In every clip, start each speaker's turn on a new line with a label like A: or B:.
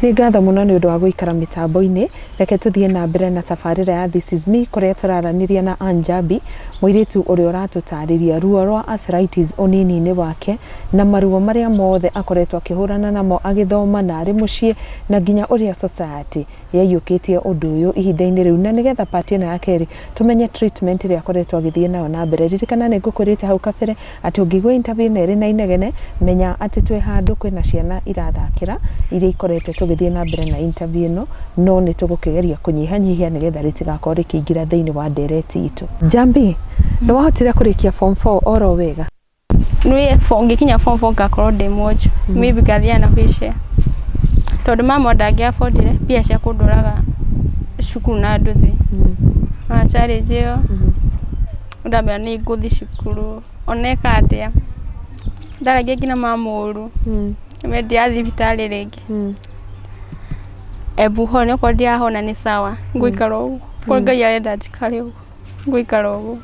A: nĩ ngatho mũno nĩ ũndũ wa gũikara mĩtambo-inĩ reke tũthiĩ na mbere na tabarĩra ya This is me kũrĩa tũraranĩria na Anjabi mũirĩtu ũrĩa ũratũtarĩria ruo rwa arthritis ũnini-inĩ wake na maruo marĩa mothe akoretwo akĩhũrana namo agĩthoma na arĩ mũciĩ na nginya ũrĩa society yaiyũkĩtie ũndũ ũyũ ihinda-inĩ rĩu na nĩgetha part ĩno ya kerĩ tũmenye treatment ĩrĩa akoretwo agĩthiĩ nayo na mbere. Ririkana nĩ ngũkwĩrĩte hau kabere atĩ ũngĩigua interview ĩno ĩrĩ na inegene menya atĩ twĩ handũ kwĩna ciana irathakĩra iria ikoretwo tũgĩthiĩ na mbere na interview ĩno no nĩ tũgũkĩgeria kũnyihanyihia nĩgetha rĩtigakorwo rĩkĩingĩra thĩinĩ wa ndereti itũ. Njambi, nĩ wahotire kũrĩkia form four oro wega? Niĩ form
B: ngĩkinya form four ngakorwo ndĩ mwonju, maybe ngathiaga na wheel chair. Tondũ mama ndangĩabotire mbia cia kũndwaraga cukuru na nduthi. Ona challenge ĩyo, rĩu ndamenya nĩ ngũthi cukuru, ona eka atĩa. Ndaragia nginya mama ũru, niĩ ndiathiĩ thibitarĩ rĩngĩ. Embu hona, okorwo ndirahona nĩ sawa, ngũikara ũguo. Okorwo Ngai arenda njikare ũguo. gũikara ũguo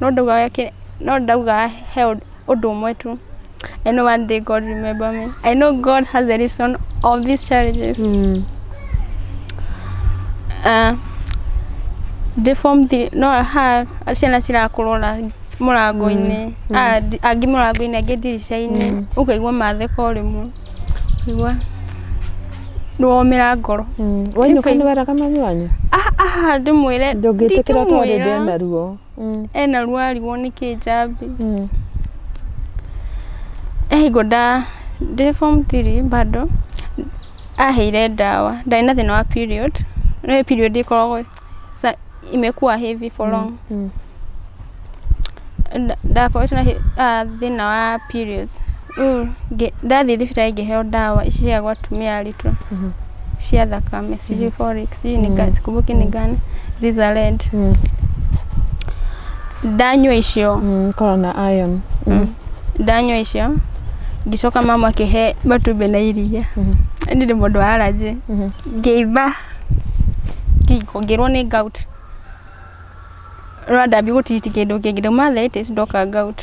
B: no ndauga weke no ndauga he ũndũ ũndũ ũmwe tu I know one day God will remember me I know God has a reason of these challenges uh, ndĩ form three no ha ciana cirakũrora mũrango-inĩ Ah, ndi- angĩ mũrango-inĩ angĩ ndirica-inĩ ũkaigua matheka o rĩmwe Nĩgwa nĩwomera ngoro Mm. Wainũka nĩ weraga
A: mami wanyu? Ah, ah, ndĩmwĩre
B: Ndũngĩtĩkĩra tondũ
A: ndĩ ndingĩmwĩra na ruo. Mm. ena ruo
B: arigwo nĩkĩ njambi Mm. hingo nda ndĩ form 3 bado aheire ndawa ndarĩ na thĩna wa period nĩ period ĩkoragwo sa, imekuwa heavy for long Mm. Nda- ndakoretwo na hi- ah, thĩna wa periods Rĩu ngĩ- ndathiĩ thibitarĩ ngĩheo ndawa ici cia gwatumia aritũ Mhm. cia thakame sijui folic sijui ni gani sikumbuki ni gani ziza red Mm. ndanyua icio Mm. Ikoragwo na iron.
A: Mm. ndanyua
B: icio ngicoka mama akĩhe matumbĩ na iria Mhm. ni ndĩ mũndũ wa aranjĩ Mhm. ngĩimba Ngĩrwo nĩ gout. Rĩrĩa ndambia gũtiriti kĩndũ kĩngĩ, ndauma arthritis ndoka gout.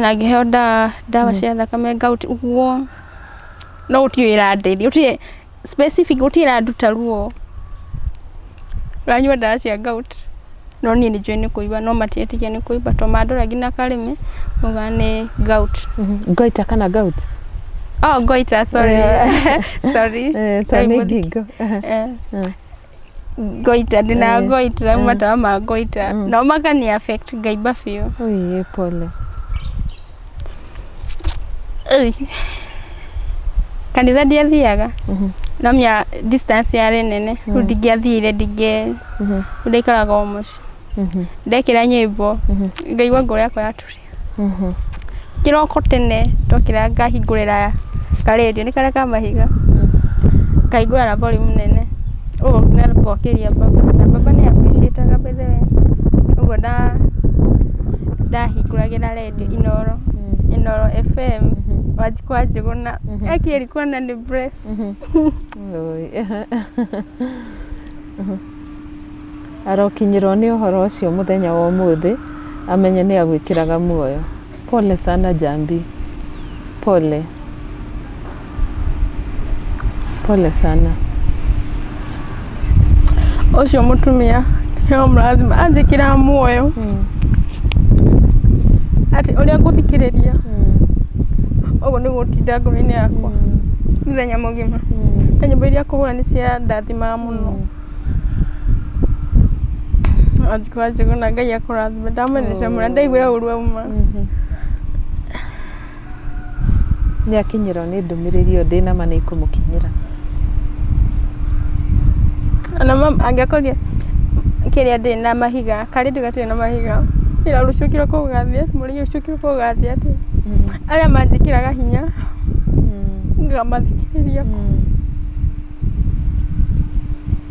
B: Na ngĩheo ndawa, ndawa cia thakame gout ũguo, no gũtirĩ ĩrandeithia, gũtirĩ specific gũtirĩ ĩranduta ruo. Ũranyua ndawa cia gout, no niĩ nĩ njũĩ nĩ kũimba no matietĩkia nĩ kũimba to mandora nginya karĩmĩ maugaga nĩ gout. Goita kana
A: gout? Oh, goita,
B: sorry. sorry. Eh, to nĩ
A: ngingo. Eh.
B: Goita, ndĩna Eh. goita, rĩu matawa ma goita. No makani affect ngaimba biũ. Ui, pole.
A: Ei.
B: kanitha ndiathiaga no mia distance yarĩ nene rĩu ndingĩathire ndingĩ ndaikaraga o mũciĩ ndekĩra nyĩmbo ngaigua ngoro yakwa yaturia kĩroko tene ndokĩra ngahingũrĩra karendio nĩ karĩa ka mahiga ngahingũra na volume nene ũguo na ngokĩria baba na baba nĩ appreciataga by the way ũguo nda ndahingũragĩra rendio Redio Inooro, Inooro FM, Wanjikũ wa Njũgũna, Eki alikuwa na ni breast. Oi.
A: arokinyirwo nĩ ũhoro ũcio mũthenya wa ũmũthĩ amenye nĩ agwĩkĩraga muoyo pole sana jambi pole Pole sana.
B: Ũcio mũtumia nĩo mũrathima anjĩkĩra muoyo atĩ ũrĩa ngũthikĩrĩria ũguo nĩguo ũtinda ngoro-inĩ yakwa mũthenya mũgima na nyĩmbo iria akũhũra nĩ cia ndathimaga mũno wanjikũ wanjikũ na Ngai akũrathime ndamwendete mũno na ndaiguire ũru auma.
A: Nĩ akinyĩrwo nĩ ndũmĩrĩri ĩyo ndĩ nama nĩ ikũmũkinyĩra.
B: Ona mom angĩakorire kĩrĩa ndĩ na mahiga karĩ ndĩ gatirĩ na mahiga ira rũciũ kĩroko gũgathiĩ atĩa mũthenya ũcio kĩroko gũgathiĩ atĩa arĩa manjĩkĩraga hinya ngamathikĩrĩria.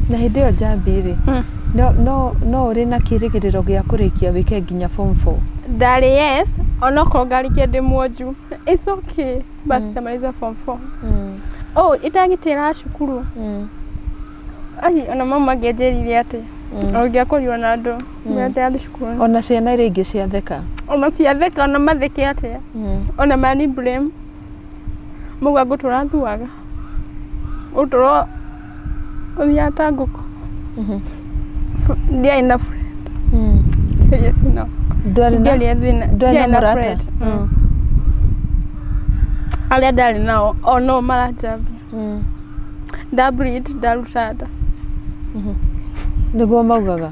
A: Na hĩndĩ ĩyo njambi-rĩ, hmm. no, no, no ũrĩ na kĩrĩgĩrĩro gĩa kũrĩkia wĩke nginya form 4? Ndarĩ yes,
B: onokorwo ngarĩkia ndĩ mwonju. It's okay, basi mm. tamaliza form 4. Mm. Oh, itagĩtĩra cukuru. Mm. Ai, ona mama angĩanjĩrire atĩ mm. ũngĩakũrio na andũ mm. ndathiĩ cukuru. Ona ciana iria ingĩ
A: ciatheka. Ona
B: ciatheka, ona matheke atĩa. Mm.
A: Ona
B: mani blame. mũgambo tũrathuaga, ũtũro ũthiaga ta ngũkũ, ndiarĩ na burenda, ndiarĩ na burenda, ndiarĩ na burenda, arĩa ndarĩ nao o nao maranjambia, nda bleed ndaruta nda.
A: Nĩguo maugaga?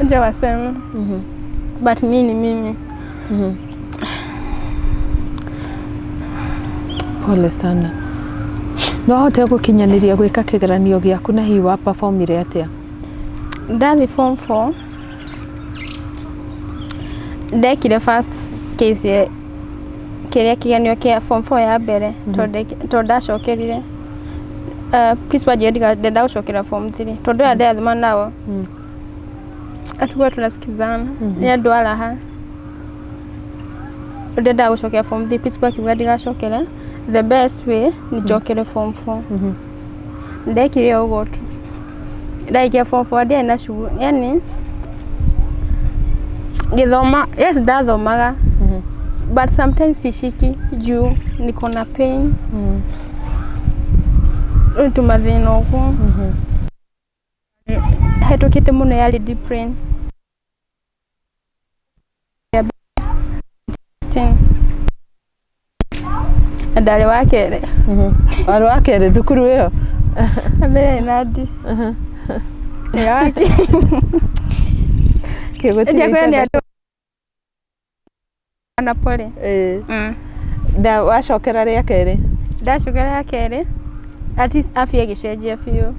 B: Unja wasema. Mhm. But mimi ni mimi. Mhm.
A: pole sana no ahote gũkinyanĩria gwĩka kĩgeranio gĩaku na hihi wa performire atĩa Ndathi
B: form 4. Ndekire first case kĩrĩa kĩgeranio kĩa form 4 ya mbere tondũ ndacokerire Ah, principal anjĩra ndiga- ndenda gũcokera form 3 tondũ aya ndĩrathoma nao atuga tunasikizana nĩ andũ a raha ndendaga gũcokera form 3 principal akiuga ndigacokere the best way nĩ njokere form 4 ndekire ũguo tu ndaikia form four ndiarĩ na cugu yani ngĩthoma yes ndathomaga but sometimes ciciki juu niko na pain rĩu tũmathĩna ũguo hetũkĩte mũno yarĩ deep rain na ndarĩ wa kerĩ warĩ wa
A: kerĩ thukuru ĩyo na mbere
B: na ndi ĩrĩa wa kĩng'ũti
A: kĩrĩa nĩ andũ
B: Ona pole. Eh. Mm.
A: Da wacokera rĩa kerĩ. Ndacokera rĩa
B: kerĩ. At least afya ĩgĩcenjia biũ.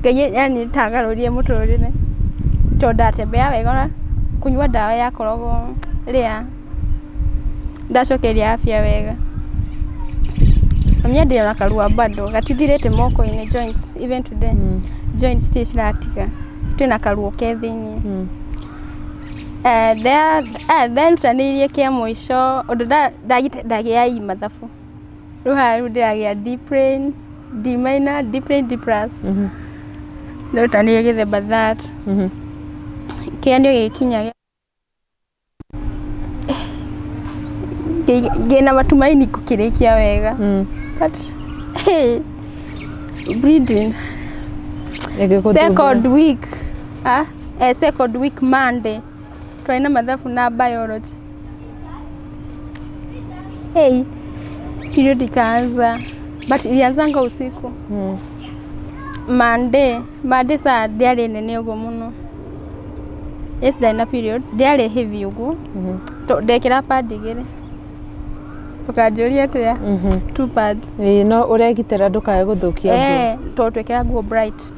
B: Ngai yani tangarũrie mũtũrĩre. Tondũ ndatembea wega kũnyua ndawa ya korogo rĩa ndacokeria afya wega. Mami ndĩ na karuo bado gatithirĩte moko-inĩ joints even today. Mm. Joints itirĩ ciratiga. Twĩna karuo ke thĩinĩ. Mm. Nderutanĩirie kĩa mũico ũndũ ndagĩa E mathabu, rĩu haha rĩu ndĩragĩa D plain, D minor, D plain, D plus. Nderutanĩirie gĩthemba that. Kĩgeranio gĩgĩkinya ndĩna matumaini ngũkĩrĩkia wega but bleeding second week. eh, second week monday twarĩ na mathabu na biology hey, period ikaanza but ilianzanga usiku Mm. monday monday saa ndiarĩ nene ũguo mũno yes ndarĩ na period ndiarĩ heavy ũguo Mhm. To- ndekĩra pad igĩrĩ ũkanjũria atĩa Mhm. two pads Ĩĩ, no ũregitĩra
A: ndũkae gũthũkia nguo Eh, to twekĩra nguo bright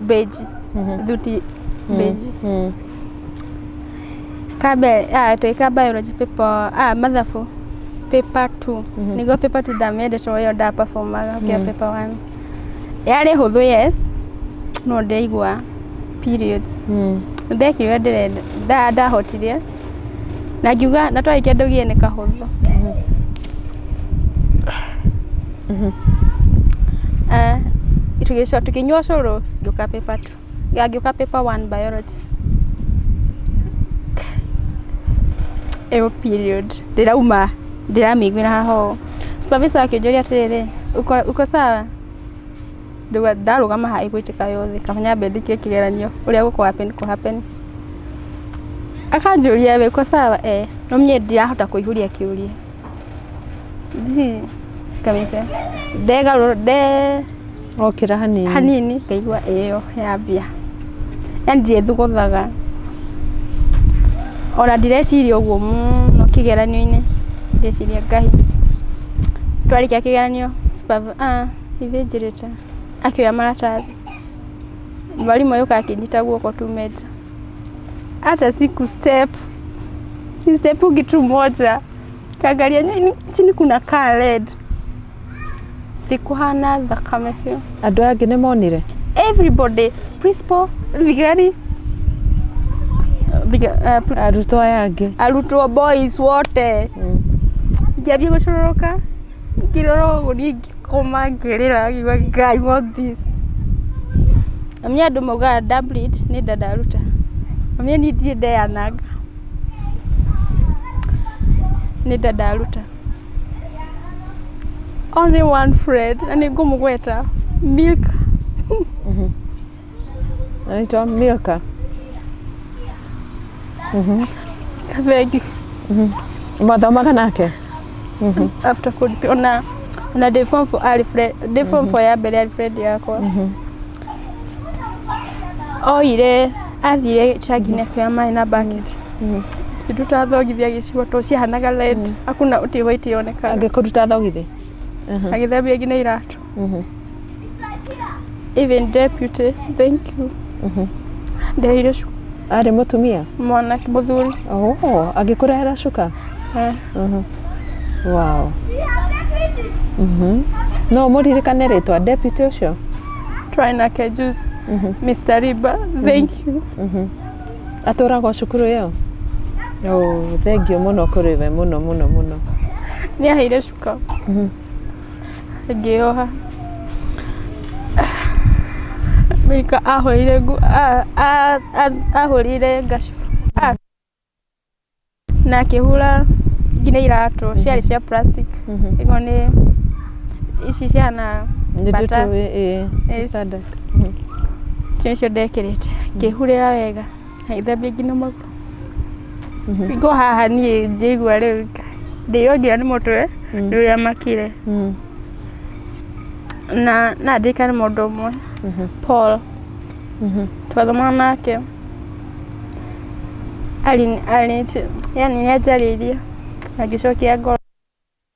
B: beji thuti beji kabe ah, twika biology paper ah, mathabu paper 2 niguo paper 2 ndamendete uyo nda performaga ukia paper 1 yarĩ hũthũ yes no ndaigua periods ndekire ũrĩa ndĩrenda nda- ndahotire na ngiuga na twarĩkia ndũgie nĩ kahũthũ Eh, tũgĩco- tũkĩnyua cũrũ ngĩũka paper two ya ngĩũka paper one biology ĩyo period ndĩrauma ndĩramĩiguĩra haha ũũ supervisor akĩnjũria atĩrĩrĩ uko, uko sawa Rĩu ndarũgama haha ĩgwĩkĩka yothe, kaba nyambe ndĩkie kĩgeranio ũrĩa gũkũ happen kũ happen. Akanjũria we uko sawa? Ee. No niĩ ndirahota kũihũria kĩũria. This kamĩca. Ndegarũra, nde...
A: Okĩra hanini. Hanini, ngaigua
B: ĩyo yambia. Yani ndiethuguthaga. Ona ndireciria ũguo mũno kĩgeranio-inĩ. Ndĩreciria Ngai. Twarĩkia kĩgeranio, supervisor... Ibĩ njĩrĩte. Akĩoya maratathi. Mwarimũ agĩũka akĩnyita guoko tume nja. Hata siku step. Ni step kitu moja. Kaangalia chini, chini kuna kaa red. Sikuhana thakame biũ. Andũ aya angĩ nĩ monire?
A: Everybody,
B: principal, thigari, thiga-
A: eh, pr- Arutwo aya angĩ. arutwo boys
B: wote. Ngĩambia gũcũrũrũka. Ngĩrora ũguo niĩ ngĩkoma ngĩrĩra ngiuga Ngai what this. Mami andũ maugaga Dublet nĩ nda ndaruta. Mami niĩ ndirĩ ndeyananga. Nĩ nda ndaruta. Only one friend na nĩ ngũmũgweta Milk.
A: Anaitwa Milka.
B: Kavegi.
A: Mwathomaga nake?
B: After kulipia una una day form for Alfred, day form for ya mbere Alfred yakwa. Oire athire chagine kwa maĩ na bucket. Tutathogithia gĩcigo to ciahanaga red. Hakuna ũtĩ white yonekana. Angĩkũruta thogithi.
A: Agĩthambia
B: nginya iratũ. Mm-hmm. Even deputy, thank you. Mm-hmm. Ndehire cuka arĩ mũtumia
A: mwana mũthuri.
B: oh, agĩkũrehera
A: cuka Eh. Mhm. wow Mhm. no mũririkane rĩtwa deputy ũcio Try nake
B: juice. Mr. Riba, thank you.
A: atũraga o cukuru ĩyo oh, thengio mũno kũrĩ we mũno mũno mũno Nĩ
B: aheire cuka. ngĩyoha, Mika ahũrire nguo, ahũrire ngacibũ na akĩhũra nginya iratũ ciarĩ cia plastic ĩno nĩ ici ciana bata,
A: icio
B: nĩcio ndekĩrĩte ngĩhurĩra wega. Haithambia nginya magũrũ. Ngũ haha niĩ njĩigua rĩu ndĩo nginya nĩ mũtwe nĩ ũrĩa makire. Na na ndirikane mũndũ ũmwe Paul twathomanaga nake arĩ arĩ yaani nĩ anjarĩirie na ngĩcokia ngoro.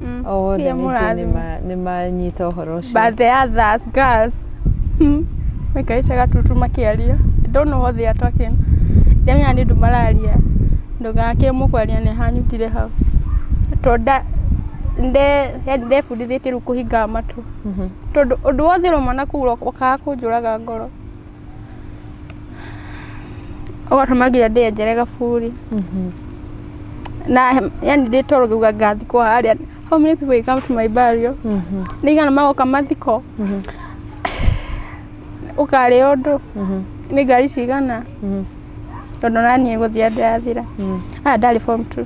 A: Mm. o wothe Tia ningĩ mũrathime. nĩma- nĩmanyita ũhoro ũcio Birthday ya thas
B: gas. Maikarĩte gatutu makĩaria. I don't know what they are talking. Ndamenya nĩ ũndũ mararia. Ndũgakĩre mũkwaria nĩ hanyutire hau. To nda nde yani ndebundithĩtie rĩu kũhingaga matũ. Mhm. Tondũ ũndũ wothe ũromana kũu ũro- ũkaga kũnjũraga ngoro. ũgatũmagira ndĩenjere gaburi na yani ndĩtoro ngauga ngathikwo harĩa how many people will come to my burial nĩigana magoka mathiko ũkarĩa ũndũ nĩ ngari cigana tondũ naniĩ gũthia ndĩrathira aya ndarĩ form two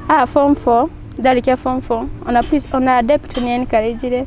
B: aya form four ndarĩkia form four ona pris- ona debt nĩ encouragire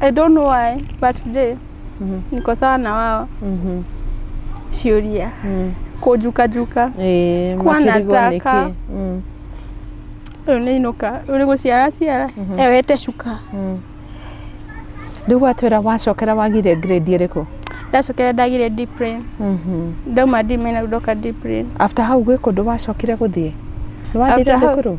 B: I don't know why but today Mhm. niko sawa na wao Mhm. shiuria Mm. kujukajuka Eh, Sikuwa makirigo nataka. niki. Mm. uyu ni inuka uyu ni guciara ciara ewete cuka Mm.
A: Rĩu watwĩra wacokera wagire grade ĩrĩkũ? ndacokera ndagire
B: deeprin Mhm. ndauma dimena ndoka deeprin After hau gwĩ kũndũ
A: wacokire gũthiĩ? Nĩwathiire After hau- thukuru?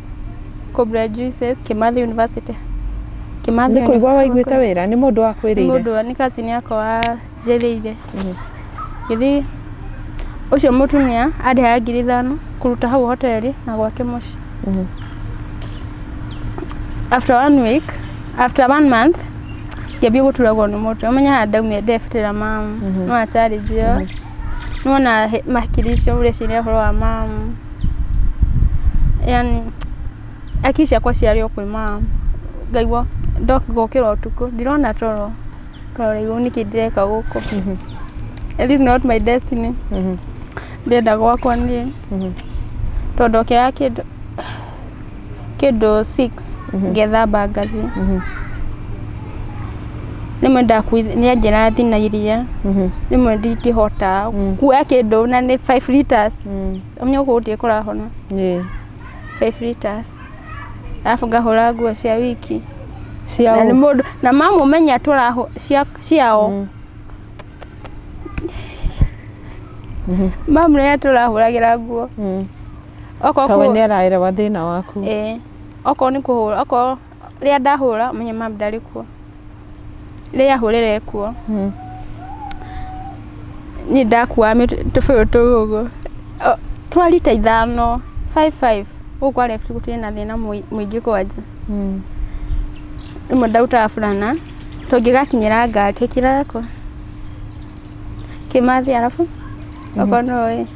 B: Cobra Juices, Kimathi University. Kimathi Nĩ
A: kũigua waiguĩte wĩra nĩ mũndũ wa kwĩrĩire. Mũndũ wa nĩ kazi nĩ akwa
B: wanjĩrĩire. Gĩthiĩ ũcio mũtumia andĩhaga ngiri ithano kũruta hau hoteli na gwake mũciĩ. After one week, after one month, ngĩambia gũturagwo nĩ mũtwe. Ũmenye handũ ndaumire ndebutĩra mamu. No a challenge ĩyo. Nĩwona he- makiri icio ũreciria ũhoro wa mamu. yaani hakiri ciakwa ciarĩ o kwĩ mom, ngaigua ngokĩra ũtukũ ndirona toro, toro rĩu nĩkĩ ndĩreka gũkũ, is this not my destiny? ndĩrenda gwakwa niĩ, tondũ ndokĩraga kĩndũ. kĩndũ six ngethamba ngathiĩ. Rĩmwe ndakuithia, nĩ anjĩra thiĩ na iria, rĩmwe ndingĩhota kuoya kĩndũ na nĩ five litres, nĩ ũguo gũtirĩ kũrahona. Five litres. Arabu ngahũra nguo cia wiki. Na nĩ mũndũ, na mamũmenya tũrahũ, cia ciao. Mamenya tũrahũragĩra nguo. Okorwo Tawe kũ- nĩ araerewa
A: thĩna waku. ĩĩ. Okorwo nĩ
B: kũhũra, okorwo rĩrĩa ndahũra menye mam ndarĩ kuo. Rĩrĩa ahũrĩra e kuo, Mm. niĩ ndakuaga mĩt- tũbũyũ tũu ũguo. O, Twa rita ithano, five five. Gũkũ kwa left gũtirĩ na thĩna mũi- mũingĩ kwanja. Mm. Rĩmwe ndarutaga burana, tũngĩgakinyĩra ngari twĩkĩraga kũ? Kĩmathi arabu, okorwo nĩũĩ.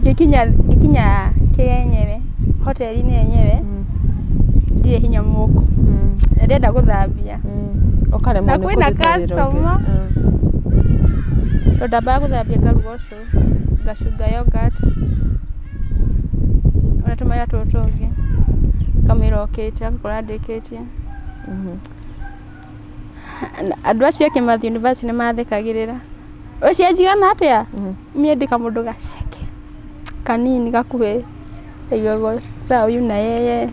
B: Ngĩkinya kĩrĩa yenyewe, hoteri-inĩ yenyewe, ndirĩ hinya mũndũ, na ndĩrenda gũthambia, na
A: kwĩna customer,
B: tondũ ndambaga gũthambia ngaruga ũcũrũ, ngacunga yoghurt, na tũmera tũtũ tũngĩ, kamũira okĩte, agakora ndĩkĩtie. Andũ acio angĩ mathiĩ yunibacĩtĩ nĩ mathekagĩrĩra. Ũcenjio ona atĩa? Niĩ ndĩ kamũndũ gaceke kanini gakuhĩ kaigagwo sawa yu na yeye.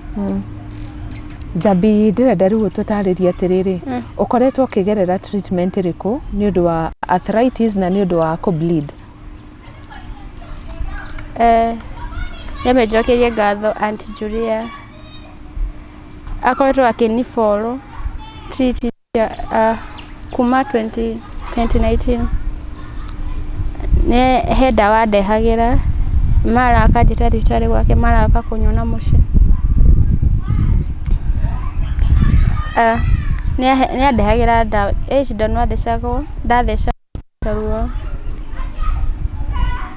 B: Njambi
A: ndĩrenda rĩu ũtũtarĩrie atĩrĩrĩ, ũkoretwo ũkĩgerera treatment ĩrĩkũ nĩ ũndũ wa arthritis na nĩ ũndũ wa kũ bleed?
B: Nyambe njokeirie ngatho Aunt Julia. Akoretwo akĩni follow kuma 2019. He ndawa andehagĩra mara akanjĩta thibitarĩ gwake mara agoka kũnyona mũciĩ. Nĩ andehagĩra ndawa, he cindano athecagwo ndathecwo. Ruo.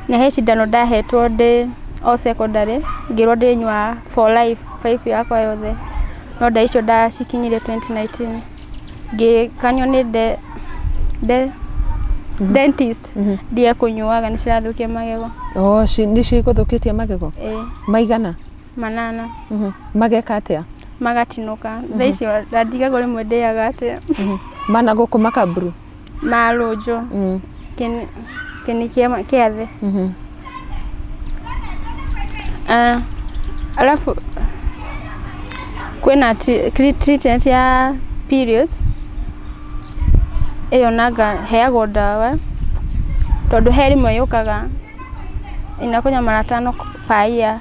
B: Na he cindano ndahetwo ndĩ o secondary, ngĩrwo ndĩnyua for life, life yakwa yothe. No ndawa icio ndacikinyire twenty nineteen. Ngĩkanio nĩ dentist, ndige kũnyuaga nĩ cirathũkia magego. Oo nĩcio
A: igũthũkĩtie magego? Ĩĩ. Maigana? Manana.
B: Mageka
A: atĩa? Magatinũka.
B: Thaa icio na ndigagwo rĩmwe ndĩaga atĩa. Managũkũma
A: kamburu? marũnjũ
B: mm. kĩni kĩa thĩ mm-hmm. ah, alafu kwĩna treatment ya periods ĩyo nanga heagwo ndawa tondũ he rĩmwe yũkaga inakunya mara tano per year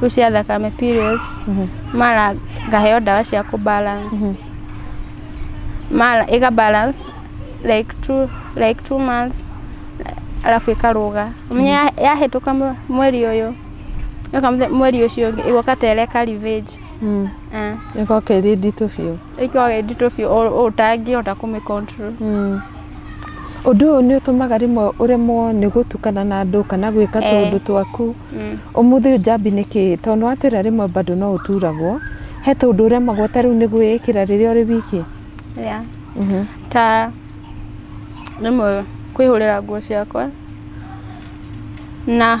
B: kuu cia thakame periods mara ngaheo ndawa cia kũ balance mara ĩga balance like two, like two months alafu ĩkarũga menye ya- yahĩtũka mwe- mweri ũyũ yoka mũthe- mweri ũcio ũngĩ ĩgoka tereka revenge Mm. Ah.
A: Ĩgoka ĩrĩ nditũ biũ. ĩkoragwo ĩ nditũ biũ ũ- ũtangĩhota
B: kũmĩ control Mm.
A: ũndũ ũyũ nĩ ũtũmaga rĩmwe ũremwo nĩ gũtukana na andũ kana gwĩka Eh. tũũndũ twaku Mm. ũmũthĩ ũyũ njambi nĩ kĩĩ tondũ nĩ watwĩra rĩmwe bado no ũturagwo he tũũndũ ũremagwo ta rĩu nĩ gwĩĩkĩra rĩrĩa ũrĩ wiki yeah. Mhm. ta
B: rĩmwe kwĩhũrĩra nguo ciakwa na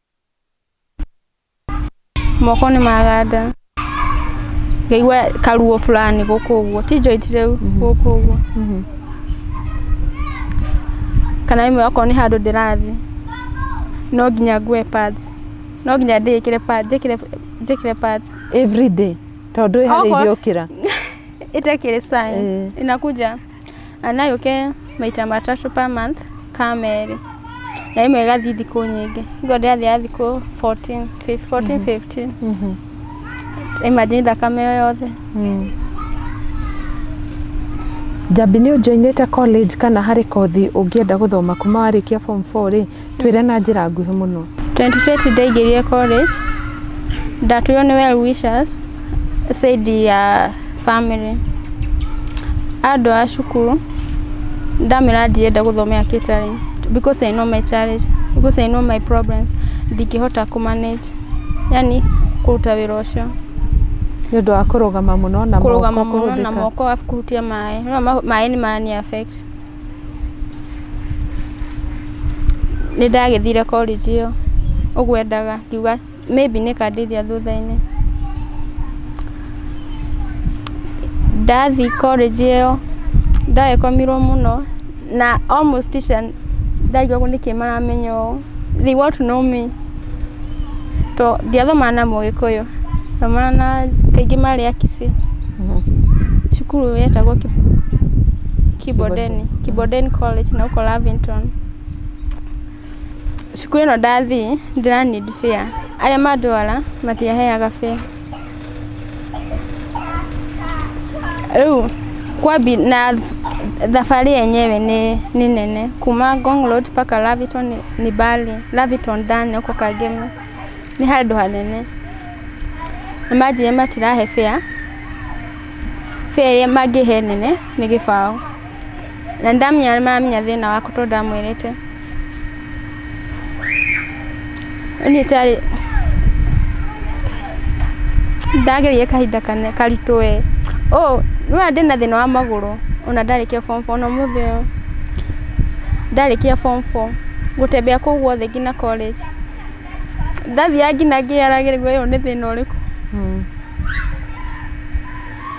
B: moko nĩ maganda ngaigua karuo fulani gũkũ ũguo ti joint rĩu gũkũ ũguo kana ĩmwe okorwo nĩ handũ ndĩrathiĩ no nginya ngue pads no nginya ndĩkĩre pads njĩkĩre njĩkĩre pads every day
A: tondũ ĩharĩ Okorwo- irio kĩra ĩtekĩrĩ
B: sign Eh. inakuja Na no yũke maita matatũ per month ka merĩ. Na ĩmwe ĩgathiĩ thikũ nyingĩ. Ũguo ndĩrathiaga thikũ fourteen, fourteen, fifteen. Imagine thakame ĩyo yothe.
A: Njambi nĩ ũ joinĩte college kana harĩ kothi ũngĩenda gũthoma kuma warĩkia form four rĩ? Twĩre na njĩra nguhĩ mũno. 2020 ndaingĩrire
B: college, ndatwĩrwo nĩ well wishers said ya family. Andũ a cukuru ndamera ndirenda gũthomera catering because I know my challenge, because I know my problems ndingĩhota kũ manage yani kũruta wĩra ũcio nĩ ũndũ
A: wa kũrũgama mũno na kũrũgama mũno na moko
B: kuhutia maĩ, maĩ nĩ marani affect Nĩ ndagĩthire college ĩyo ũguo endaga ngiuga maybe nĩ ĩkandeithia thutha-inĩ. Ndathiĩ college ĩyo ndagĩkomirwo mũno na almost teacher ndangĩũĩ nĩkĩ maramenya ũũ, they want to know me. To ndiathomaga na mũgĩkũyũ, ndathomaga na kaingĩ marĩ a kisii. Cukuru ĩyo yetagwo Kibondeni, Kibondeni College na gũkũ Lavington. Cukuru ĩno ndathiĩ ndĩra need fare, arĩa mandwara matiaheaga fare. Rĩu kwambi na th- thabarĩ yenyewe nĩ nĩ nene kuma Ngong Road mpaka Lavington nĩ- nĩ mbali Lavington ndani huko Kangemi nĩ handũ hanene na manjĩra matirahe fare fare ĩrĩa mangĩhe nene nĩ gĩbaũ Na ndamenya nĩ maramenya thĩna waku tondũ ndamwĩrĩte. Niĩ tarĩ ndagereire kahinda kana karitũ we. Ũũ, nĩ wona ndĩna thĩna wa magũrũ ona ndarĩkia form four ona ũmũthĩ ũyũ. Ndarĩkia form four, gũtembea kũu guothe nginya college. Ndathiaga nginya ngĩyũraga ũyũ nĩ thĩna ũrĩkũ.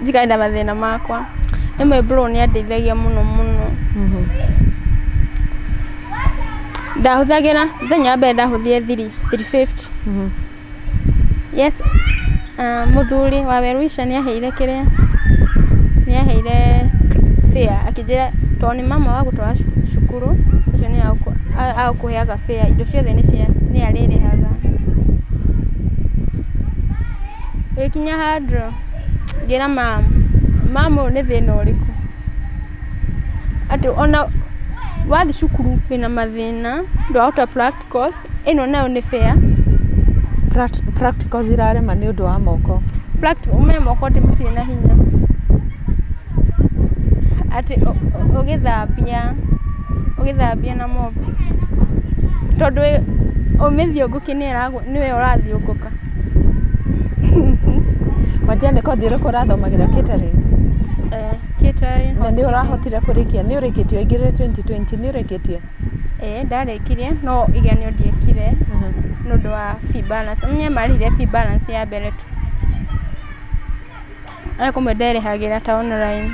B: Njikaenda mathĩna makwa. Ĩmwe bro nĩ andeithagia mũno mũno. Ndahũthagĩra, mũthenya wa mbere ndahũthire thiri, thiri fifty. Yes, ah, mũthuri wa Welwisha nĩ aheire kĩrĩa, nĩ aheire fare akĩnjĩra to nĩ mama wagũtwara cu- cukuru, ũcio nĩ agũkũ- a- agũkũheaga fare, indo ciothe nĩ cia, nĩ arĩrĩhaga. Ĩgĩkinya handũ Ngĩra mama, mama ũyũ nĩ thĩna ũrĩkũ? Atĩ ona wathiĩ cukuru wĩna mathĩna, ndũrahota practicals, ĩno nayo nĩ fair? Practicals
A: irarema nĩ ũndũ wa moko. Practicals ũmenye moko
B: ti matirĩ na hinya. Atĩ ũgĩthambia, ũgĩthambia na mop. Tondũ ũmĩthiũngũkie nĩ ĩragũteithia. nĩwe ũrathiũngũka.
A: Wanjia nĩ kothi ĩrĩkũ ũrathomagĩra catering? Eh,
B: catering. Na nĩ ũrahotire
A: kũrĩkia? Nĩ ũrĩkĩtie ũingĩrĩre 2020? Nĩ ũrĩkĩtie? Eh, ndarĩkirie
B: no igenio ndiekire nĩ ũndũ wa fee balance. Nĩ marĩhire fee balance ya mbere tu. Arĩ kũmwe nderĩhagĩra ta online,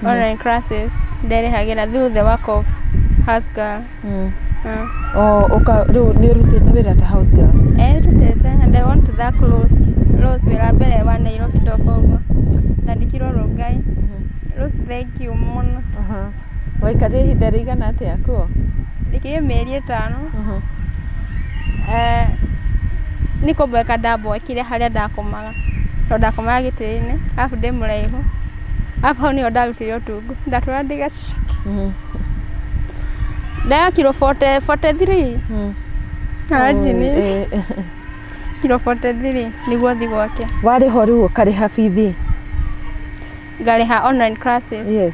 B: online classes, nderĩhagĩra through the work of house girl. Mm. Mm. Oh, uka
A: rĩu nĩ ũrutĩte wĩra ta house girl. Eh, rutĩte and I
B: want to thank Rose. Rose wĩra mbere wa Nairobi toka ũguo. Ndandĩkirwo Rongai. Rose thank you mũno. Aha. Waikarire
A: ihinda rĩigana atĩa kuo? Ndĩkire mĩeri
B: ĩtano. Aha. Eh, nĩ kũmweka ndamwekire harĩa ndakomaga. tondũ ndakomaga gĩtĩ-inĩ, arabu ndĩ mũraihu, arabu hau nĩho ndarutire ũtungu, ndatũraga ndĩ gaceke. Ndaga kiro 40 43 kanjini, kiro 43 nĩguo thiĩ gwake, Warĩho rĩu ũkarĩha
A: bithi.
B: ngarĩha online classes. Yes.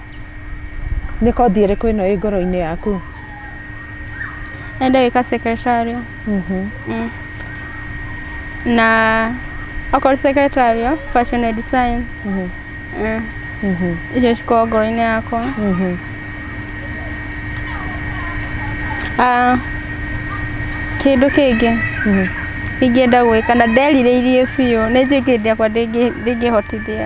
A: Nĩ kothi ĩrĩkũ ĩno ĩ ngoro-inĩ yaku? Nenda
B: gwĩka secretarial. Mm. Na okorwo secretarial, fashion and design. Eh, Icio cikoragwo ngoro-inĩ yakwa. Ah, Kĩndũ kĩngĩ ingĩenda gwĩka na nderirĩirie biũ, nĩ njũĩ kĩndũ gĩakwa ndĩngĩ- ndĩngĩhotithia.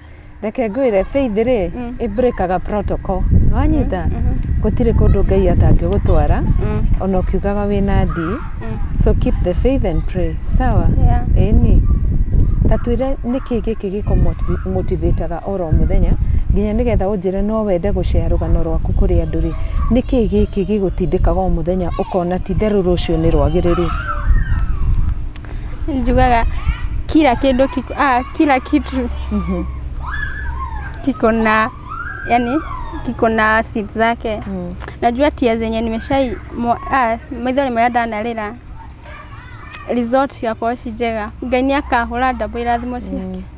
A: reke ngwĩre faith rĩ mm. ĩbrĩkaga protocol nĩwanyita mm, mm, gũtirĩ kũndũ ngai atangĩgũtwara ona ũkiugaga wĩ na ndi so keep the faith and pray sawa ĩni ta twĩre nĩkĩ gĩkĩ gĩko motivateaga oro mũthenya nginya nĩgetha ũnjĩre no wende gũcea rũgano rwaku kũrĩ andũ rĩ nĩkĩ gĩkĩ gĩgũtindĩkaga o mũthenya ũkona ti therũ rũciũ nĩ rwagĩrĩru
B: Njugaga kira kĩndũ kiko, aah kila kitu kiko na yani kiko na seed zake. Najua tia zenye nimeshai mwa- ah, maitho nĩ marĩa ndanarĩra result ciakwa ci njega. Ngai nĩ akahũra ndabũ irathimo ciake.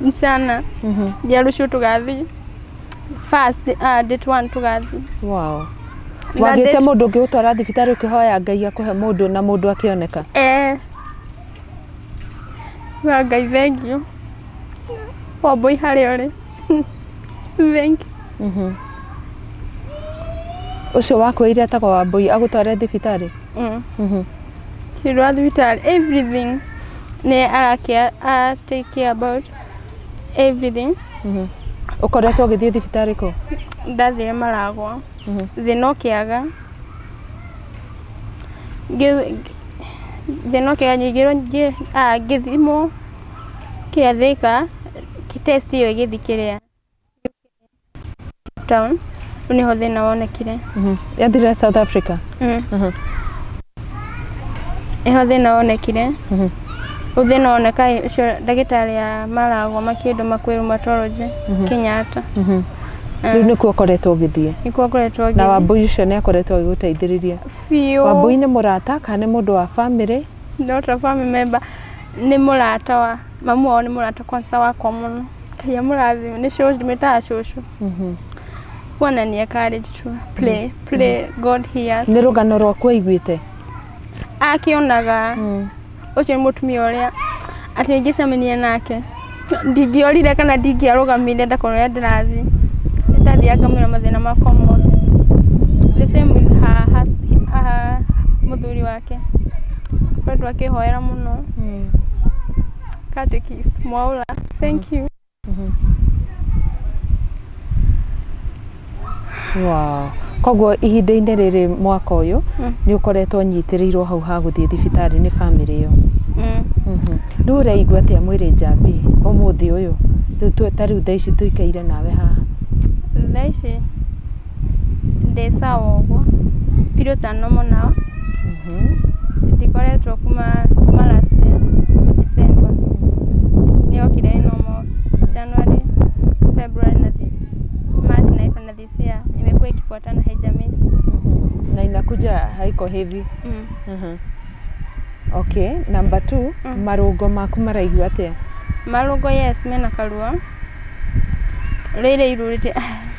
B: msichana Mhm. jarushu tugathi first uh, date one tugathi Wow.
A: Na Wagĩte date- mũndũ ũngĩ gũtwara thibitarĩ ũkĩhoya Ngai akũhe mũndũ na mũndũ akĩoneka. eh wa ngai thengio wambui harĩa ũrĩ Thank you. ũcio wakuĩire atagwo wambũi agũtware thibitarĩ Mm. Mhm. Hĩndĩ wa
B: thibitarĩ everything nĩ arakĩa a take care about everything Mhm.
A: ũkoretwo ũgĩthiĩ thibitarĩ kũ ndathire
B: maragwa Mhm. thĩna ũkĩaga Ngĩ- thĩna ũkĩaga nyingĩrwo ngĩ- ah, ngĩthimwo Thĩka, test ĩyo ĩgĩthiĩ kĩrĩa, Cape Town, rĩu nĩho thĩna wonekire. Yathire South
A: Africa?
B: Nĩho thĩna wonekire. Rĩu thĩna woneka ĩ, ũcio ndagĩtarĩ a maragwa makĩndũ ma kwĩ rheumatology, Kenyatta.
A: Rĩu nĩkuo ũkoretwo ũgĩthiĩ? Nĩkuo ngoretwo Na ngĩthiĩ.
B: Wambũi ũcio nĩ akoretwo
A: agĩgũteithĩrĩria? Biũ. Wambũi nĩ mũrata kana nĩ mũndũ wa bamĩrĩ? No ta family
B: member. Nĩ mũrata wa, mamu wao nĩ mũrata kwanza wakwa mũno. Ngai amũrathime, nĩ cũcũ, ndĩmwĩtaga cũcũ. Huwa anania courage tu. Play, play, God hears. nä rå gano rwaku aiguä
A: te Akĩonaga,
B: ũcio nĩ mũtumia ũrĩa, atĩ ingĩcemania nake. Ndingĩorire kana ndingĩarũgamire ndakorwo ũrĩa ndĩrathiĩ, nĩ ndathiaga ngamenya mathĩna makwa mothe. The same with her mũthuri wake, akoretwo akĩhoera mũno, catechist Mwaura. Thengiũ.
A: Wow. Koguo ihinda-inĩ rĩrĩ mwaka ũyũ nĩ ũkoretwo ũnyitĩrĩirwo hau ha gũthiĩ thibitarĩ nĩ bamĩrĩ ĩyo. Mhm. Rĩu ũreigua atĩa mwĩrĩ njambi ũmũthĩ ũyũ? Rĩu tu- ta rĩu thaa ici tũikaire nawe haha. thaa ici
B: ndĩ sawa ũguo pirũ ta normal now ndikoretwo kuma kuma last year December nĩyokire ĩ normal January February na thi- March na April na this year imekuwa ikifuatana haijamiss na
A: inakuja haiko heavy mm. Mhm. okay number two Mm. marũngo maku maraigua atĩa marũngo yes
B: mena karuo rĩrĩ irurĩte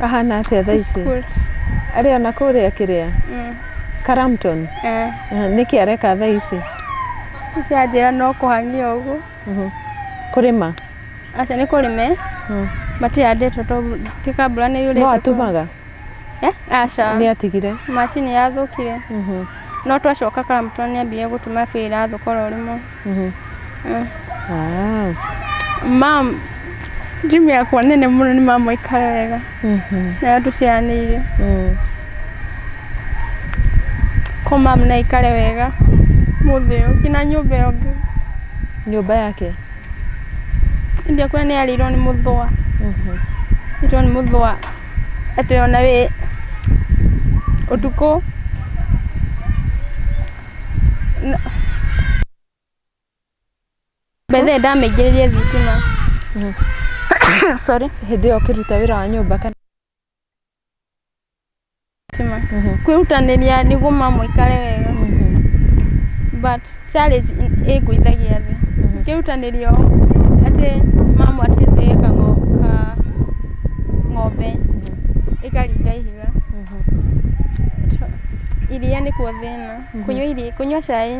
A: Ahana atĩa thaa ici? Arĩ ona kũrĩa kĩrĩa? Mm. Karamton? Eh. Eh, nĩkĩ areka thaa ici? Ici
B: anjĩra no kũhang'ia ũguo. Mhm. Kũrĩma?
A: Aca
B: nĩ kũrĩme. Mm. Matihandĩtwo to ti kambura nĩ yurĩte. No atumaga?
A: Eh? Aca.
B: Nĩ atigire?
A: Macini yathũkire.
B: Mhm. No twacoka Karamton nĩ ambire gũtuma bĩra thũkora ũrĩmwe. Mhm. Eh. Ah. mam jimi yakwa nene muno ni mama ikara wega Mhm. nayo tuciaranĩire Mm. ko mam na ikare wega mũthĩo kina nyũmba ĩyo ngĩ nyũmba
A: yake
B: indi akwa nĩ yarĩirwo nĩ mũthũa Mhm. itwo nĩ mũthũa atĩ ona wĩ ũtukũ mbere ndamĩingĩrĩrie thitima sorry hĩndĩ ĩyo ũkĩruta wĩra wa
A: nyũmba kana thitima
B: kwĩrutanĩria nĩguo mama aikare wega but challenge ĩngũithagia thĩ ngĩrutanĩria ũũ atĩ mama atĩ ĩka ng'ombe ĩkaringa ihiga iria nĩkuo thĩna Hapana. Kunywa ili kunywa chai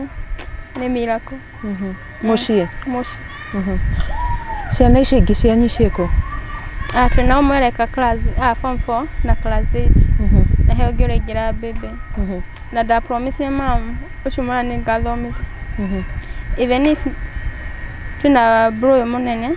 B: ni miracle. muciĩ
A: Moshi. ciana icio ingĩ cianyu ciĩkũ Ah, twĩ
B: nao mwereka class ah, form 4 na class 8. Na he ũngĩ ũraingĩra mbembe. Na nda promise mam ũcio mwana nĩ ngathomithia. Even if twĩna bro ũyũ mũnene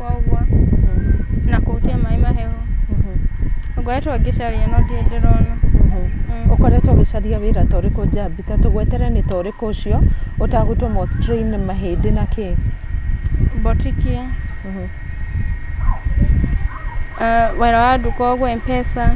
B: ciakwa ũguo na kũhutia maĩ mahehu. Ngoretwo ngĩcaria no ndirĩ ndĩrona. Ũkoretwo
A: ũgĩcaria wĩra ta ũrĩkũ Njambi? Ta tũgwetere nĩ ta ũrĩkũ ũcio ũtagũtũmwo strain mahĩndĩ na kĩ? Botiki,
B: ah, wĩra wa nduka ũguo M-Pesa.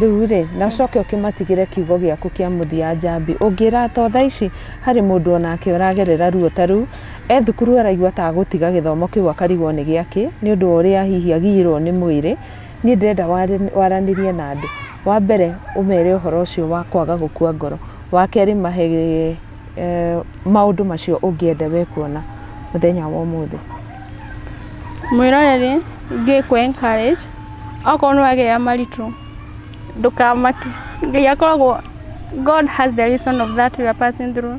B: Rĩu-rĩ,
A: na ũcoke ũkĩmatigĩre kiugo gĩaku kĩa mũthia, Njambi. Ũngĩra ata o thaa ici? Harĩ mũndũ o nake ũragerera ruo ta rũu. E thukuru araigua ta agũtiga gĩthomo kĩu akarigwo nĩ gĩa kĩ, nĩ ũndũ wa ũrĩa hihi agiirũo nĩ mwĩrĩ. Niĩ ndĩrenda waranĩrie na andũ. Wa mbere, ũmere ũhoro ũcio wa kwaga gũkua ngoro. Wa kerĩ, mahe maũndũ macio ũngĩenda we kuona mũthenya wa ũmũthĩ. Mwĩroreri,
B: Ngĩkũ encourage. Okorwo nĩ wagĩa maritũ, ndũkamake. Ngai akoragwo, God has the reason of that you are passing through.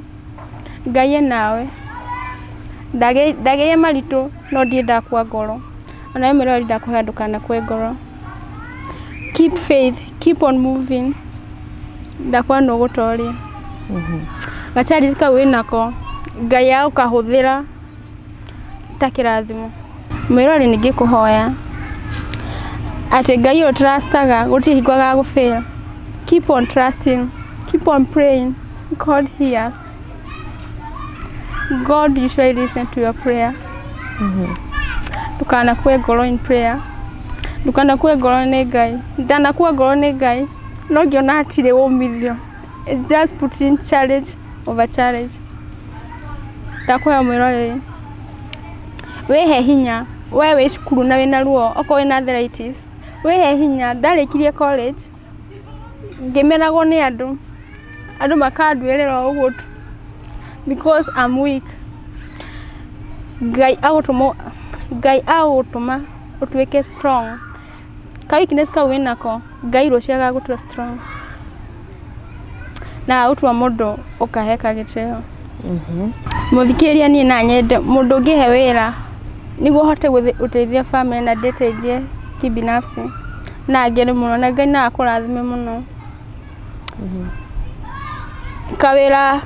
B: Ngai e nawe. Ndagĩire maritũ no ndirĩ ndakua ngoro. O na we mwĩre ũrĩa ndakũhoya ndũkanakue ngoro. Keep faith, keep on moving. Ndakũa nĩ ũgũtoria. Ga challenge kau wĩnako, Ngai agũkahũthĩra. ta kĩrathimo. Mwĩrore ningĩ kũhoya atĩ Ngai ũyũ tũracitaga gũtirĩ hingo agagũ fail. Keep on trusting, keep on praying, God hears. God usually listens to your prayer. Ndũkanakue ngoro in prayer. Ndũkanakue ngoro nĩ Ngai. Ndanakua ngoro nĩ Ngai. No ngĩona hatirĩ umithio. Just put in challenge. over challenge. Ndakwĩhoya ũmwĩre ũrĩrĩ, wĩhe hinya, we wĩ cukuru na wĩna ruo, okorwo wĩna arthritis, wĩhe hinya, ndarĩkirie college, ngĩmenagwo nĩ andũ, andũ makanduĩrĩra o ũguo tu, because I'm weak. Ngai agũtũma, Ngai agũtũma ũtuĩke strong. Ka weakness kau wĩnako, Ngai ruo ciagaga gũtua strong. Na ũtua mũndũ ũkaheka gĩtĩo. Mhm. Mũthikĩrĩria niĩ na nyende mũndũ ũngĩhe wĩra nĩguo hote gũteithia family na ndĩteithie kibinafsi na ngene mũno na Ngai no akũrathime mũno. Mhm. Kawĩra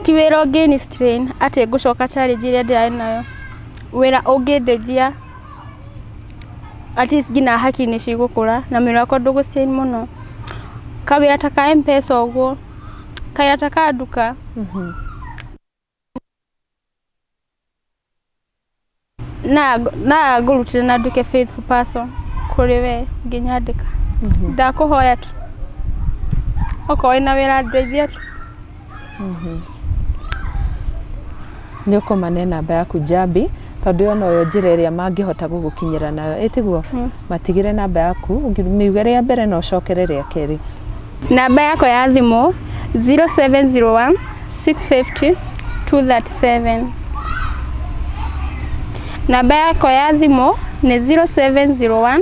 B: ti wĩra ũngĩni strain atĩ ngũcoka challenge ĩrĩa ndĩrarĩ nayo. Wĩra ũngĩndeithia. at least nginya haki nĩ cigũkũra na mwĩrĩ wakwa ndũgũ strain mũno. Kawĩra ta ka M-Pesa ũguo, kawĩra ta ka nduka. Na na ngũrutĩra na nduĩke faithful person kũrĩ we ũngĩnyandĩka. Ndakũhoya tu okorwo wĩna wĩra ndeithia tu.
A: Nĩ ũkũma ne namba yaku Njambi tondũ yona ũyũ njĩra ĩrĩa mangĩhota gũgũkinyĩra nayo ĩtiguo matigĩre namba yaku mĩuge rĩa mbere na ũcokere rĩa kerĩ. Namba yakwa
B: ya thimũ 0701 650 237. Namba yakwa ya thimũ nĩ 0701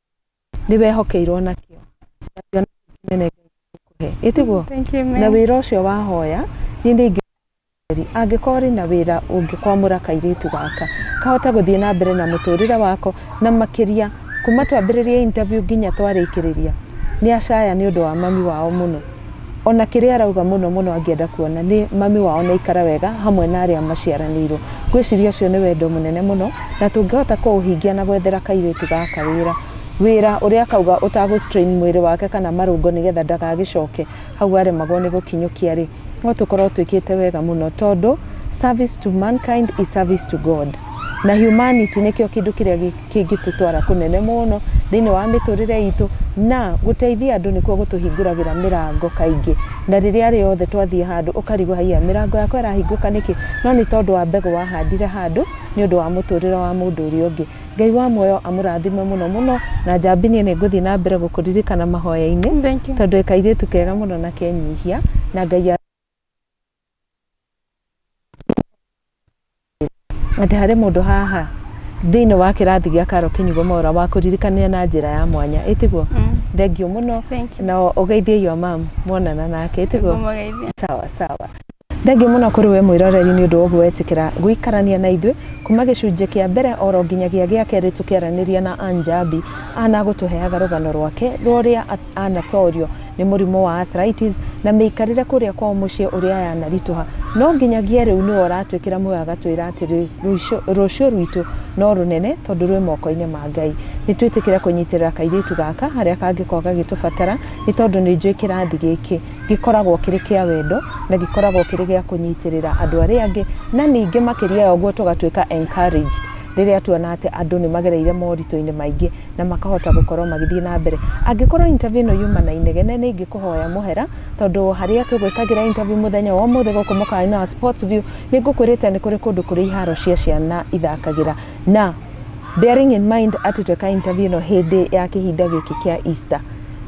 A: nĩ wehokeirwo na kĩo na kĩo nene kũhe ĩtiguo Thank you, na ma'am. wĩra ũcio wahoya niĩ nĩ ingĩ angĩkorwo rĩ na wĩra ũngĩkwamũra kairĩtu gaka kahota gũthiĩ na mbere na mũtũrĩre wako na makĩria kuma twambĩrĩria interview nginya twarĩkĩrĩria nĩ acaya nĩ ũndũ wa mami wao mũno Ona kĩrĩa arauga mũno mũno angĩenda kuona nĩ mami wao na ikara wega hamwe na arĩa maciaranĩirwo. Ngwĩciria ũcio nĩ wendo mũnene mũno na tũngĩhota kũũhingia na gwethera kairĩtu gaka wĩra. Wĩra ũrĩa akauga ũtagũ strain mwĩrĩ wake kana marũngo nĩgetha ndagagĩcoke hau aremagwo nĩ gũkinyũkia rĩ, no tũkorwo twĩkĩte wega mũno tondũ service to mankind is service to God. Na humanity nĩkĩo kĩndũ kĩrĩa kĩngĩtũtwara kũnene mũno thĩinĩ wa mĩtũũrĩre itũ, na gũteithia andũ nĩkuo gũtũhingũragĩra mĩrango kaingĩ. Na rĩrĩa rĩothe twathiĩ handũ ũkarigwo haiya mĩrango yakwa ĩrahingũka nĩkĩ? No nĩ tondũ wa mbegũ wahandire handũ nĩ ũndũ wa mũtũũrĩre wa mũndũ ũrĩa ũngĩ. Ngai wa muoyo amũrathime mũno mũno. Na Njambi niĩ nĩ ngũthiĩ na mbere gũkũririkana mahoya-inĩ tondũ wĩ kairĩtu kega mũno na kenyihia. Na Ngai. Atĩ harĩ mũndũ haha thĩinĩ wa kĩrathi gĩa Karo Kĩnyugo Mora wa kũririkania na njĩra ya mwanya ĩtiguo thengiũ mũno na ũgeithie your mom mwonana nake ĩtiguo sawa sawa thengiũ mũno kũrĩ we mwĩroreri nĩ ũndũ woguo wetĩkĩra gũikarania na ithuĩ kuma gĩcunjĩ kĩa mbere oro nginyagia gĩa kerĩ tũkĩaranĩria na Anjabi ana gũtũheaga rũgano rwake rũrĩa anatorio nĩ mũrimũ wa arthritis na mĩikarĩre kũrĩa kwao mũciĩ ũrĩa yanaritũha no nginyagia rĩu nĩwe ũratwĩkĩra muoyo agatwĩra atĩrĩ rũciũ rwitũ no rũnene tondũ rwĩ moko-inĩ ma ngai nĩ twĩtĩkĩre kũnyitĩrĩra kairĩtu gaka harĩa kangĩkorwo gagĩtũbatara nĩ tondũ nĩ njũĩ kĩrathi gĩkĩ gĩkoragwo kĩrĩ kĩa wendo na gĩkoragwo kĩrĩ gĩa kũnyitĩrĩra andũ arĩa angĩ na ningĩ makĩria ya ũguo tũgatuĩka encouraged rĩrĩa tuona atĩ andũ nĩ magereire moritũ-inĩ maingĩ na makahota gũkorwo magĩthiĩ na mbere. Angĩkorwo interview ĩno yuma na inegene nĩ ingĩkũhoya mũhera tondũ harĩa tũgwĩkagĩra interview mũthenya wa ũmũthĩ gũkũ mũkawa-inĩ wa Sports View nĩ ngũkwĩrĩte nĩ kũrĩ kũndũ kũrĩ iharo cia ciana ithakagĩra na bearing in mind atĩ tweka interview ĩno hĩndĩ ya kĩhinda gĩkĩ kĩa Easter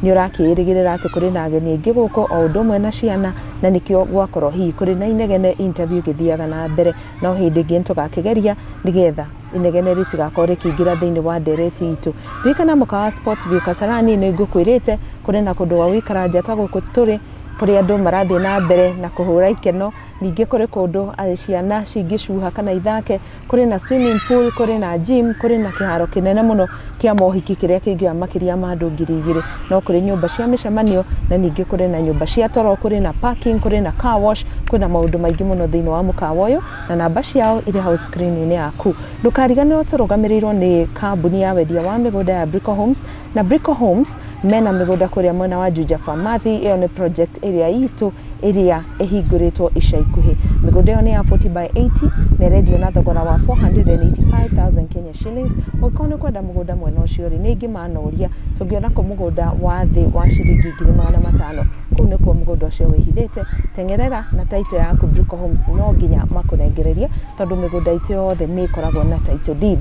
A: nĩ ũrakĩĩrĩgĩrĩra atĩ kũrĩ na ageni aingĩ gũkũ o ũndũ ũmwe na ciana na nĩkĩo gwakorwo hihi kũrĩ na inegene interview ĩgĩthiaga na mbere no hĩndĩ ĩngĩ nĩ tũgakĩgeria nĩgetha inegene rĩtigakorwo rĩkĩingĩra thĩinĩ wa ndereti itũ ririkana mũkawa wa sports view kasarani nĩ ngũkwĩrĩte kũrĩ na kũndũ gwa gũikara nja ta gũkũ tũrĩ kũrĩ andũ marathiĩ na mbere na kũhũra ikeno ningĩ kũrĩ kũndũ eh, ciana cingĩcuha kana ithake kũrĩ na swimming pool kũrĩ na gym kũrĩ na kĩharo kĩnene mũno kĩa mohiki kĩrĩa kĩingĩha makĩria ma andũ ngiri igĩrĩ no kũrĩ nyũmba cia mĩcemanio na ningĩ kũrĩ na nyũmba cia toro kũrĩ na parking kũrĩ na car wash kũrĩ na maũndũ maingĩ mũno thĩinĩ wa mũkawa ũyũ na namba ciao irĩ hau screen-inĩ yaku ndũkariganĩrwo tũrũgamĩrĩirwo nĩ kambuni ya wendia wa mĩgũnda ya Brico Homes na Brico Homes mena mĩgũnda kũrĩa mwena wa Juja Pharmacy ĩyo nĩ project ĩrĩa itũ ĩrĩa ĩhingũrĩtwo ica ikuhĩ. Mĩgũnda ĩyo nĩ ya 40 by 80 na ĩrendio na thogora wa 485,000 Kenya shillings. Ũngĩkorwo nĩ ũkwenda mũgũnda mwena ũcio rĩ, nĩ ingĩmanoria tũngĩona kũ mũgũnda wa thĩ wa ciringi ngiri magana matano. Kũu nĩkuo mũgũnda ũcio wĩhithĩte. Teng'erera na title yaku Brico Homes no nginya makũrengererie tondũ mĩgũnda itũ yothe nĩ ĩkoragwo na title deed.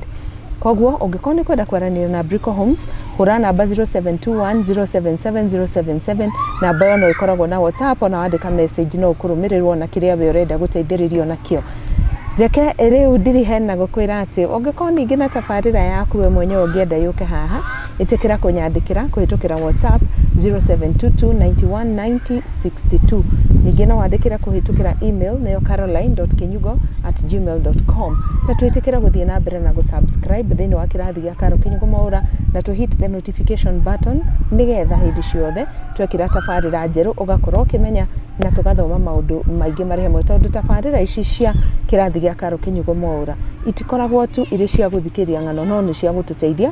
A: Kwoguo, ũngĩkorwo nĩ ũkwenda kwaranĩria na Brico Homes, hũra namba 0721077077, namba ĩyo no ĩkoragwo na WhatsApp, ona wandĩka message no ũkũrũmĩrĩrwo na kĩrĩa we ũrenda gũteithĩrĩrio nakĩo. Reke rĩu ndiriheni na gũkwĩra atĩ ũngĩkorwo ningĩ na tabarĩra yaku we mwenyewe ũngĩenda yũke haha, Ĩtĩkĩra kũnyandĩkĩra kũhĩtũkĩra WhatsApp 0722919062. Ningĩ no wandĩkĩre kũhĩtũkĩra email nĩyo caroline.kinyugo@gmail.com. Na twĩtĩkĩre gũthiĩ na mbere na gũsubscribe thĩinĩ wa kĩrathi gĩa Caro Kinyugo Mwaũra na tũ hit the notification button nĩgetha hĩndĩ ciothe twekĩra tabarĩra njerũ ũgakorwo ũkĩmenya na tũgathoma maũndũ maingĩ marĩ hamwe tondũ tabarĩra ici cia kĩrathi gĩa Caro Kinyugo Mwaũra itikoragwo tu irĩ cia gũthikĩria ng'ano no nĩ cia gũtũteithia